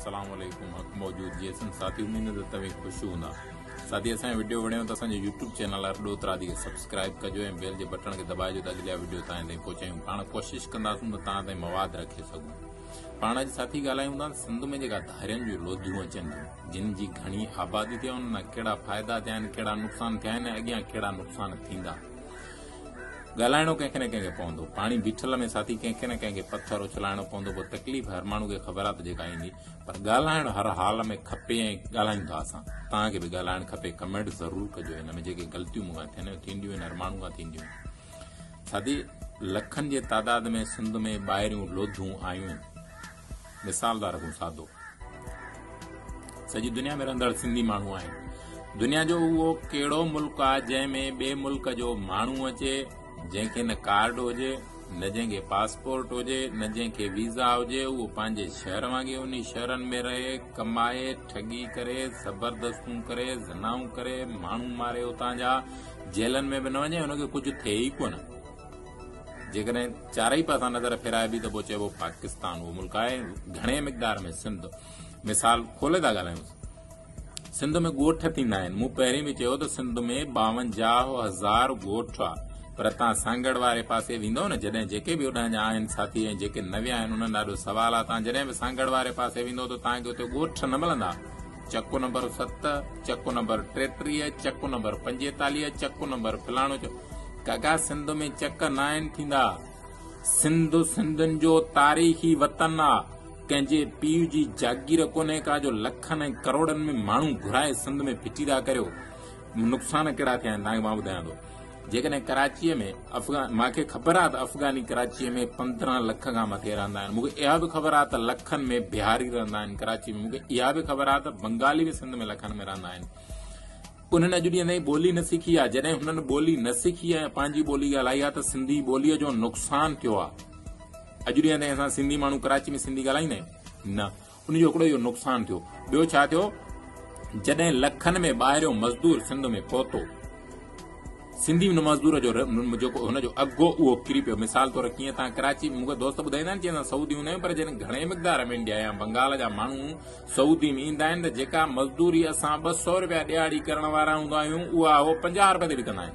السلام عليڪم حق موجود جي اسن ساٿي اميد ته توهين خوش هوندا ساٿي اسان ويڊيو وڻيو ته اسان جو يوٽيوب چينل آر ڏوت راضي کي سبسڪرائب ڪجو ۽ بيل جي بٽڻ کي دٻائجو ته اڳليا ويڊيو تان تائين پهچايون پاڻ ڪوشش ڪنداسون ته تان تائين مواد رکي سگهون پاڻ اڄ ساٿي ڳالهايون ٿا سنڌ ۾ جيڪا ڌارين جو لوڌيون اچن ٿيون جن جي گهڻي آبادي ٿي ان نا ڪهڙا فائدا ٿيا آهن ڪهڙا نقصان ٿيا آهن اڳيان ڪهڙا نقصان ٿيندا ڳالهائڻو ڪنهن کي نه ڪنهن کي پوندو. پاڻي بيٺل ۾ ساٿي ڪنهن کي نه ڪنهن کي پٿر اڇلائڻو پوندو پوء تڪليف هر ماڻهو کي خبر آ ته جيڪا ايندي پر ڳالهائڻ هر حال ۾ کپي ۽ ڳالهايون ٿا اسان توهان کي به ڳالهائڻ کپي ڪمينٽ ضرور ڪجو هن ۾ جيڪي غلطيون مون کان ٿين ٿينديون آهن هر ماڻهو کان ٿينديون آهن ساٿي لکن جي تعداد ۾ سنڌ ۾ ٻاهريون لوڌون آيون مثال ٿا رکون سادو سڄي دنيا ۾ رهندڙ سنڌي ماڻهو آهن دنيا جو اهو ڪهڙو ملڪ آهي جنهن ۾ ٻئي ملڪ جو ماڻهو اچي جنهن کي نه ڪارڊ هجي نه جنهن کي پاسپورٽ هجي نه جنهن کي ويزا هجي اهو پنهنجي شهر وانگي ان شهرن ۾ رهي ڪمائي ٺڳي ڪري زبردستون ڪري زنائون ڪري ماڻهو ماري اتان جا جيلن ۾ به نه وڃي هن کي ڪجهه ٿئي ئي ڪونه جيڪڏهن چارئي پاسا نظر ڦيرائبي ته پوء چئبو پاڪستان اهو ملڪ آهي گهڻي مقدار ۾ سنڌ مثال کولي ٿا ڳالهايون سنڌ ۾ ڳوٺ ٿيندا آهن مون پهرين به چيو ته سنڌ ۾ ٻاونجاهه هزار ڳوٺ آهي پر تان سانگهڙ واري پاسي ويندو نه جڏهن جيڪي به اڏهن جا آهن ساٿي ۽ جيڪي نويا آهن انهن ڏاڍو سوال آهي تان جڏهن به سانگهڙ واري پاسي ويندو ته تان کي اتي ڳوٺ نه ملندا چڪ نمبر ست، چڪ نمبر ٽيٽيهه، چڪ نمبر پنجيتاليهه، چڪ نمبر فلاڻو چڪ. ڪاڪا سنڌ ۾ چڪ ناهن ٿيندا. سنڌ سنڌين جو تاريخي وطن آ. ڪنهن جي پيء جي جاگير ڪونهي ڪا جو لکن ۽ ڪروڙن ۾ ماڻهو گهرائي سنڌ ۾ ڦٽي ٿا ڪريو. نقصان ڪهڙا ٿيا آهن تهان کي مان ٻڌايان ٿو. جيڪڏهن ڪراچيء ۾ افغان مان کي خبر آهي ته افغاني ڪراچيء ۾ پندرهن لک کان مٿي رهندا آهن مون کي اها به خبر آهي ته لکن ۾ بهاري رهندا آهن ڪراچي ۾ مون کي اها به خبر آهي ته بنگالي به سنڌ ۾ لکن ۾ رهندا آهن انهن اڄ ڏينهن تائين ٻولي نه سکي آهي جڏهن هنن ٻولي نه سکي آهي پنهنجي ٻولي ڳالهائي آهي ته سنڌي ٻوليء جو نقصان ٿيو آهي اڄ ڏينهن تائين اسان سنڌي ماڻهو ڪراچي ۾ سنڌي ڳالهائيندا آهيون نه ان جو هڪڙو اهو نقصان ٿيو، ٻيو ڇا ٿيو جڏهن لکن ۾ ٻاهريون مزدور سنڌ ۾ پهتو، سنڌي ان مزدور جو جيڪو هن جو اگهه هو اهو ڪري پيو، مثال طور ڪيئن تان ڪراچي مون کي دوست ٻڌائيندا آهن چي اسان سعودي هوندا آهيون پر جڏهن گهڻي مقدار ۾ انڊيا يا بنگال جا ماڻهو سعودي ۾ ايندا آهن ته جيڪا مزدوري اسان ٻه سؤ رپيا ڏهاڙي ڪرڻ وارا هوندا آهيون اها هو پنجاهه رپين تي به ڪندا آهن.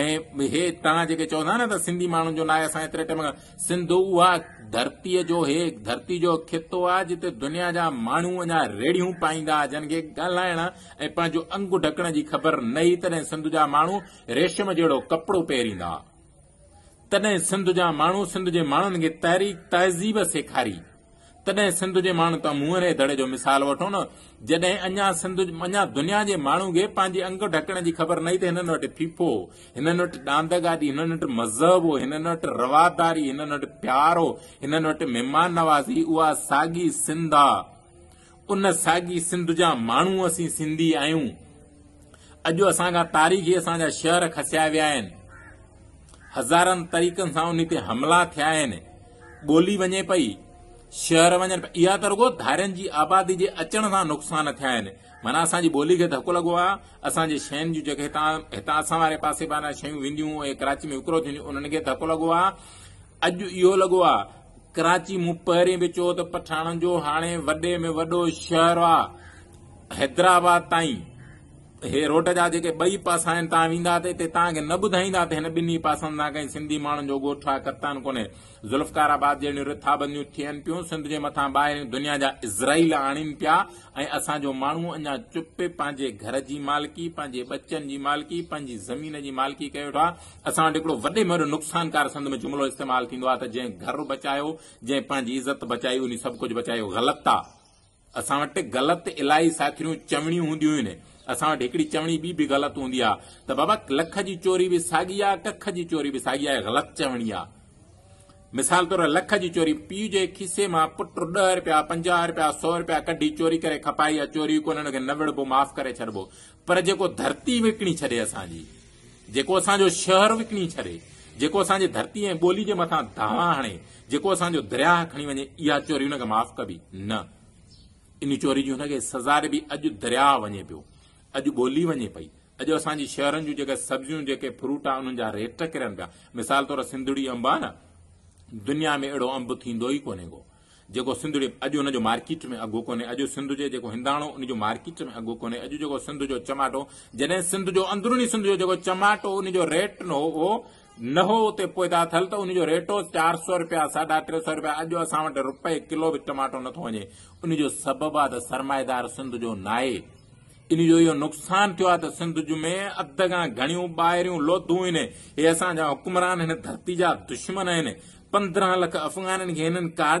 ۽ هي توهان جيڪي چئو ٿا نه ته سنڌي ماڻهن جو ناهي اسان ايتري ٽيم سنڌ اها ڌرتي جو هي ڌرتي جو خطو آ جتي دنيا جا ماڻهو اڃا ريڙهيون پائيندا جن کي ڳالهائڻ ۽ پنهنجو انگ ڍڪڻ جي خبر نه هي تڏهن سنڌ جا ماڻهو ريشم جهڙو ڪپڙو پهريندا تڏهن سنڌ جا ماڻهو سنڌ جي ماڻهن کي تحريڪ تهذيب سيکاري تڏهن سنڌ جي ماڻهن تان مون انهيء دڙي جو مثال وٺو نه، جڏهن اڃا سنڌ اڃا دنيا جي ماڻهن کي پنهنجي انگ ڍڪڻ جي خبر نه هئي ته هنن وٽ ڦيڦو هو، هنن وٽ ڏاند گاڏي، هنن وٽ مذهب هو، هنن وٽ رواداري، هنن وٽ پيار هو، هنن وٽ مهمان نوازي، اها ساڳي سنڌ آ. ان ساڳي سنڌ جا ماڻهو اسين سنڌي آهيون. اڄ اسان کان تاريخي اسان جا شهر کسيا ويا آهن. هزارن طريقن سان انهي تي حملا ٿيا آهن. ٻولي وڃي پئي، شهر وڃن پيا. اها ته رڳو ڌارين جي آبادي جي اچڻ سان نقصان ٿيا آهن. معنيٰ اسان جي ٻولي کي ڌڪ لڳو آهي. اسان جي شين جون جيڪي هتان هتان اسان واري پاسي بانهان شيون وينديون ۽ ڪراچي ۾ وڪرو ٿينديون انهن کي ڌڪ لڳو آهي. اڄ اهو لڳو آهي ڪراچي، مون پهرين به چيو ته پٺاڻن جو هاڻي وڏي ۾ وڏو شهر آ حيدرآباد تائين هي روڊ جا جيڪي ٻئي پاسا آهن تان ويندا ته اتي تان کي نه ٻڌائيندا ته هن ٻنهي پاسن تان ڪنهن سنڌي ماڻهن جو ڳوٺ آ ڪتان ڪونهي ذوالفقار آباد جهڙيون رٿابنديون ٿين پيون سنڌ جي مٿان ٻاهرين دنيا جا اسرائيل آڻين پيا ۽ اسان جو ماڻهو اڃا چپ پنهنجي گهر جي مالڪي پنهنجي ٻچن جي مالڪي پنهنجي زمين جي مالڪي ڪيو ويٺو آ اسان وٽ هڪڙو وڏي مهر نقصانڪار سنڌ ۾ جملو استعمال ٿيندو آهي ته جنهن گهر بچايو، جنهن پنهنجي عزت بچائي انهي سڀ ڪجهه بچايو. غلط آ. اسان وٽ غلط الائي ساٿريون چوڻيون هونديون هين. اسان وٽ هڪڙي چوڻي ٻي به غلط هوندي آ ته بابا لک جي چوري به ساڳي آ، ڪک جي چوري به ساڳي آ. غلط چوڻي آ. مثال طور لک جي چوري، پيء جي کيسي مان پٽ ڏهه رپيا، پنجاهه رپيا، سؤ رپيا ڪڍي چوري ڪري کپائي آ. چوري ڪونهن، ان کي نه وڙهبو، معاف ڪري ڇڏبو. پر جيڪو ڌرتي وڪڻي ڇڏي اسان جي، جيڪو اسان جو شهر وڪڻي ڇڏي، جيڪو اسان جي ڌرتي ۽ ٻولي جي مٿان دانهن هڻي، جيڪو اسان جو درياهه کڻي وڃي، اها چوري هن کي معاف ڪبي؟ نه. ان چوري جي هن کي سزا ڏبي. اڄ درياهه وڃي پيو، اڄ ٻولي وڃي پئي، اڄ اسان جي شهرن جون جيڪي سبزيون، جيڪي فروٽ آهن، انهن جا ريٽ ڪرن پيا. مثال طور سنڌڙي انب آهي نه، دنيا ۾ اهڙو انب ٿيندو ئي ڪونهي ڪو. جيڪو سنڌڙي اڄ ان جو مارڪيٽ ۾ اگهو ڪونهي اڄ سنڌ جي جيڪو هنداڻو ان جو مارڪيٽ ۾ اگهو ڪونهي اڄ جيڪو سنڌ جو چماٽو جڏهن سنڌ جو اندروني سنڌ جو جيڪو چماٽو ان جو ريٽ نه هو نه هو اتي پوئدا ٿل ته ان جو ريٽ هو چار سو روپيا ساڍا ٽي سو روپيا اڄ اسان وٽ روپئي ڪلو به ٽماٽو نٿو وڃي ان جو سبب آ ته سرمائيدار سنڌ جو ناهي ان جو اهو نقصان ٿيو آ ته سنڌ جو ۾ اڌ کان گهڻيون ٻاهريون لوڌون هن هي اسان جا حڪمران هن ڌرتي جا دشمن آهن پندرهن لک افغانن کي هنن ڪارڊ